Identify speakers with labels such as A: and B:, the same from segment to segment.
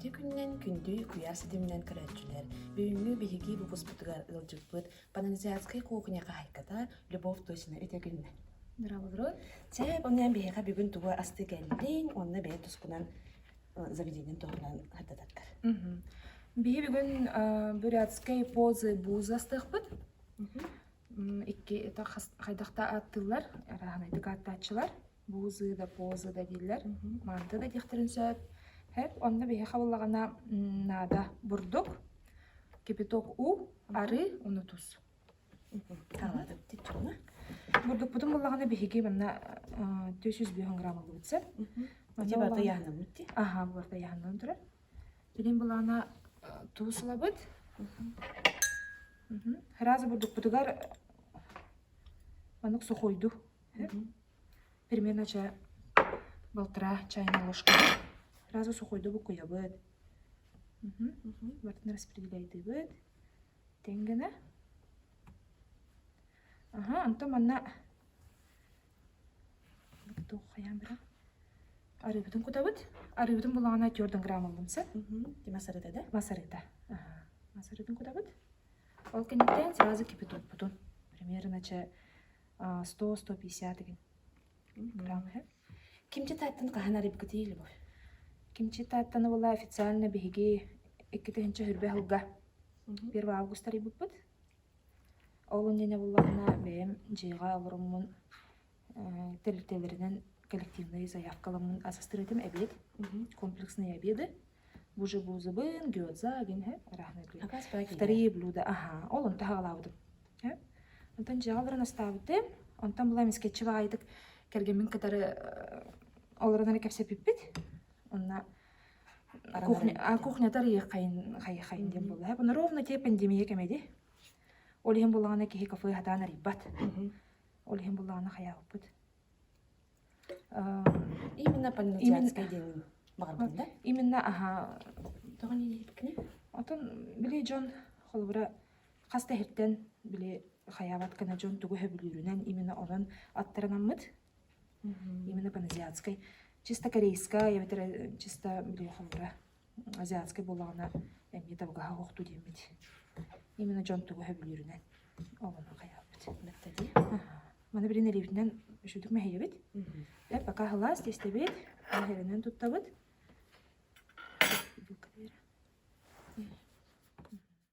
A: Ити күннэн күндү куйаас ситиминэн көрөөччүлэр бүгүҥҥү биһиги выпуспутугар ыалдьыппыт пананзиатскай кухня хаһайката Любовь Тосина үтэгүннэ. Здравствуй. Чээп онуйан биһиэхэ бүгүн тугу асты кэллин уонна бэйэ тускунан заведениен туһунан хаттататтар. Биһи бүгүн бурятскай позы буз астыахпыт. Икки хайдахта аттылар, араһанайдык ааттааччылар. Буузу да, позу да дииллэр. Манты да диэхтэрин сөп. Эп онно биһиэхэ буоллаҕына наада бурдук, кипяток уу, арыы, ону тус. Бурдукпутун буоллаҕына биһиги манна түөрт жүз бүһүн грамм ыллыбыт сөп. Ити барыта яһанаммыт дии. Аха, бу барыта яһанан турар. Билин былаана туус ылабыт. Сразу бурдукпутугар маннык сухойду. Перемена чэ балтараа чайная ложка сразу сухойду букуйабыт барытын распределяйдыыбыт тэҥ гына аха онтон манна туох хайаан быраҕан арыыбытын кутабыт арыыбытын булаҕына твердый грамм ыллым син масарыта да масарыта масарытын кутабыт ол кэнниттэн сразу кипятоппутун примерно чэ сто сто пятьдесят гривен быраҕан иһэ кимчи тааттаны хаһан арыйбыккытый любовь кимчи тааттаны була официально биһиги икки тыһыынча сөрбөх сылга первый август арыйбыппыт ол иннинэ буллаҕына бэйэм дьиэҕэ олоруммун тэрилтэлэринэн коллективнай заявкаламмын асыстыр этим эбиэт комплекснай обеды Бужебузыбын, гёдзагин, һэ, ыраахтан үтүө. Акаас баай тиийдэ. Вторые блюда, аһаа, ол онту аҕалаабытым. Һэ. Онтон дьаалларын астаабытым. Онтон была мискетчи баайдык кэргэммин кытары ол эрэнэри кэпсэпиппит. Онно кухня а кухнята арыйаххайын хайыххайын диэн буолла. Бу ровно те пандемия кэмэди. Ол иһин буллаҕына киһи кафе хатаан арыйбат. Ол иһин буллаҕына хайаабыппыт. Именно паназиатская диэн баҕарбын да. Именно аһа тоҕо нэһииккиний? Отон били дьон холобура хас да иһиттэн били хайаабат кына дьон тугу сөбүлүүрүнэн именно онон аттарынаммыт. Именно паназиатскай чисто корейская эбэтэр чисто били холобура азиатский буоллаҕына эмиэ табыгаһа охтуу диэммит именно дьон тугу сөбүлүүрүнэн ол онно хайаабыт мэктэлии маны билин илиибитинэн үчүгдүк мэһийэбит э пока халаас тиэстэбит мэһэринэн туттабыт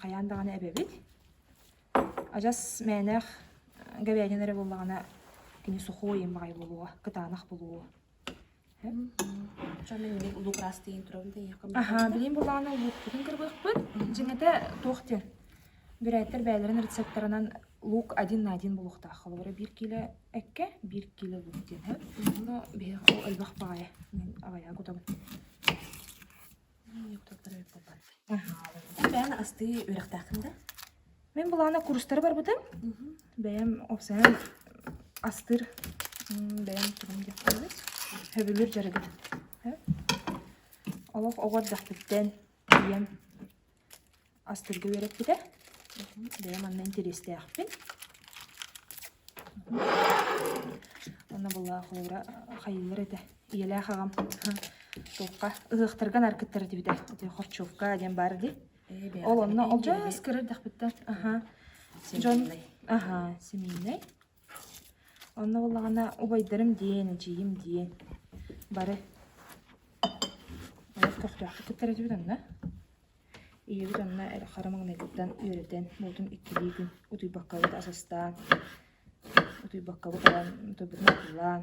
A: Хайаан даҕаны эбэбит. Адьас мээнээх говядина эрэ буоллаҕына кини сухой им баҕайы буолуо, кытаанах буолуо. Аһаа, билигин буоллаҕына улуукпутун кырбыахпыт. Дьиҥэтэ туох диэн, бүрээттэр бэйэлэрин рецепторынан луук один на один буолуохтаах. Холобура биир кило эккэ, биир кило луук диэн. Но биһиэхэ ол элбэх баҕайы. Мин авайга кутабын. бэйэм астыы үөрэхтээхпин да мин былаана курстары барбытым бэйэм офсайан астыыр бэйэм турум диэхтээбит сөбүлүүр дьарыгым олох оҕо эрдэхпиттэн ийэм Астырга үөрэппитэ. Бэйэ манна интэриэстээхпин. Оннобулла холобура хайыылар этэ. Ийэлээх аҕам туохха ыһыахтарга наар кыттар этибитэ. Ити хорчукка диэн баар дии. Ол онно алдьас көр эрдэхпиттэн. Аха. Дьон аха семейнай. Онно буоллаҕына убайдарым диэн, эдьиийим диэн бары олох көхтөөхтүк кыттар этибит онно. Ийэбит онно хара маҥнайтыттан үөрэтэн буотун иккилиитин утуйбаккабыт ас астаан утуйбаккабыт ылан утуйбутун атыылаан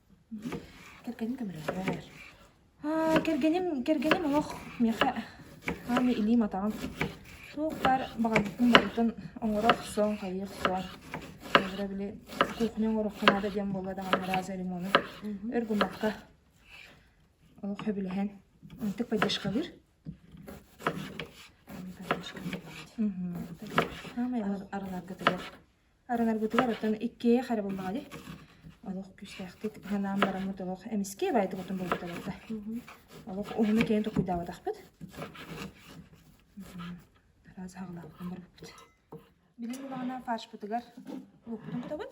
A: Кэргэним көмөлөһөр. Аа, кэргэним, кэргэним олох миэхэ ааны илиим-атаҕым суох баар баҕарбытын барытын оҥоро охсон, хайыы охсон. Холобура били кухня оҥоруохха наада диэн буолла даҕаны раза ремону өр гыммакка олох сөбүлэһэн онтук поддержкалыыр. Мхм. Саамай арыларга тыгар. Арыҥарбытыгар оттон иккиэйэх эрэ буллаҕа дии. Олох күүстээхтик санаан бараммыт олох эмискэ байытыбытын булбут олордо. Олох уһуну киэҥ толкуйдаабатахпыт. Араас аҕалаабытын барбыппыт. Билим улаҕана фаршпытыгар луоппутун кутабыт.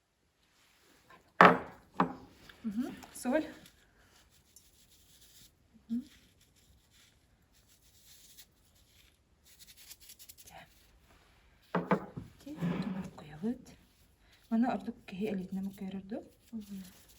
A: Соль Маны ордук киһи илиитинэн муккуйар ордук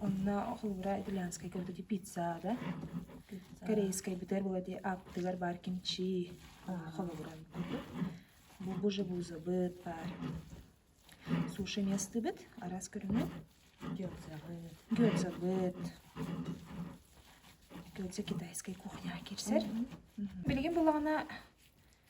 A: Онно холобура итальянскайга вот эти пицца да корейскайбытыгар бу эти аттыгар баар кимчи холобуран курдук бу бужебузабыт баар суши местыбыт араас көрүҥү гёльзабыт гёльзабыт гёльза китайскай кухняҕа киирсэр билигин буоллаҕына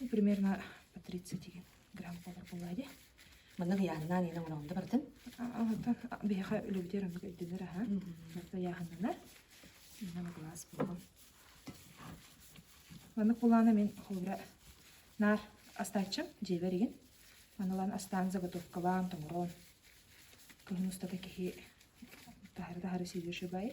A: Ну, примерно по 30 грамм буолар буолла ди. Маннык яханнаан инен муралда бартын. Оттон биһиэхэ үлэбитигэр оннук өйдөнөр аһа. Барта яханнанар. Инна глаз булган. Маннык булаана мен холбура наар астайчым дьиэбэригин. Манылан астаан заготовкалаан, тоҥорон. Кыһын устата киһи таһары-таһары сүйдүшүбай.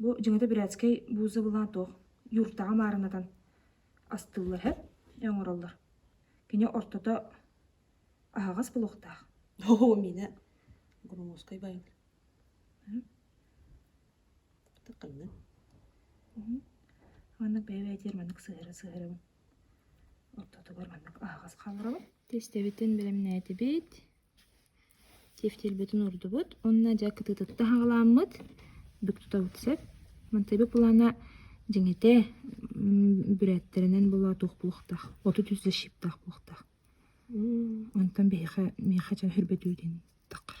A: Бу дьиҥэтэ бирээцкэй буузабыла туох юртаҕа маарынатан астыыллар эһэ оҥороллор. Кини ортото аһаҕас булуохтаах. Оо миэнэ громоскай байан. Ханна? Маннык бэйэ-бэйэтигэр маннык сыһыара-сыһыарабын. Ортотугар маннык аһаҕас хааларабын. Түстэбитин бэлэмнээтибит. тефтэрбитин уурдубут уонна дьэ кытыытыттан саҕаламмыт бүк тутабыт сөп мантайбы плана дьиҥитэ бүрээттэринэн була туох буохтаах отут үс защиптаах буохтаах онтон биһиэхэ миэхэ дьэ хөрбөтүү диэн таххар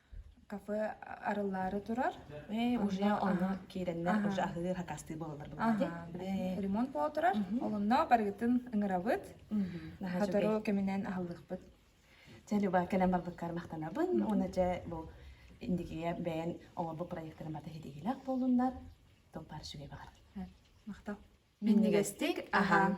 A: кафе арыллаары турар уже ону киирэннэр уже аһыы хакастыы буолаллар бу ремонт буола турар олунна барыгытын ыҥырабыт сотору кэминэн аһыллыахпыт дьэ люба кэлэн барбыккар махтанабын уна дьэ бу индикиге бэйэн оңорбут проектырын бата хитигилэх буолуннар топпар сүгей баҕар махтал миннигестик ахан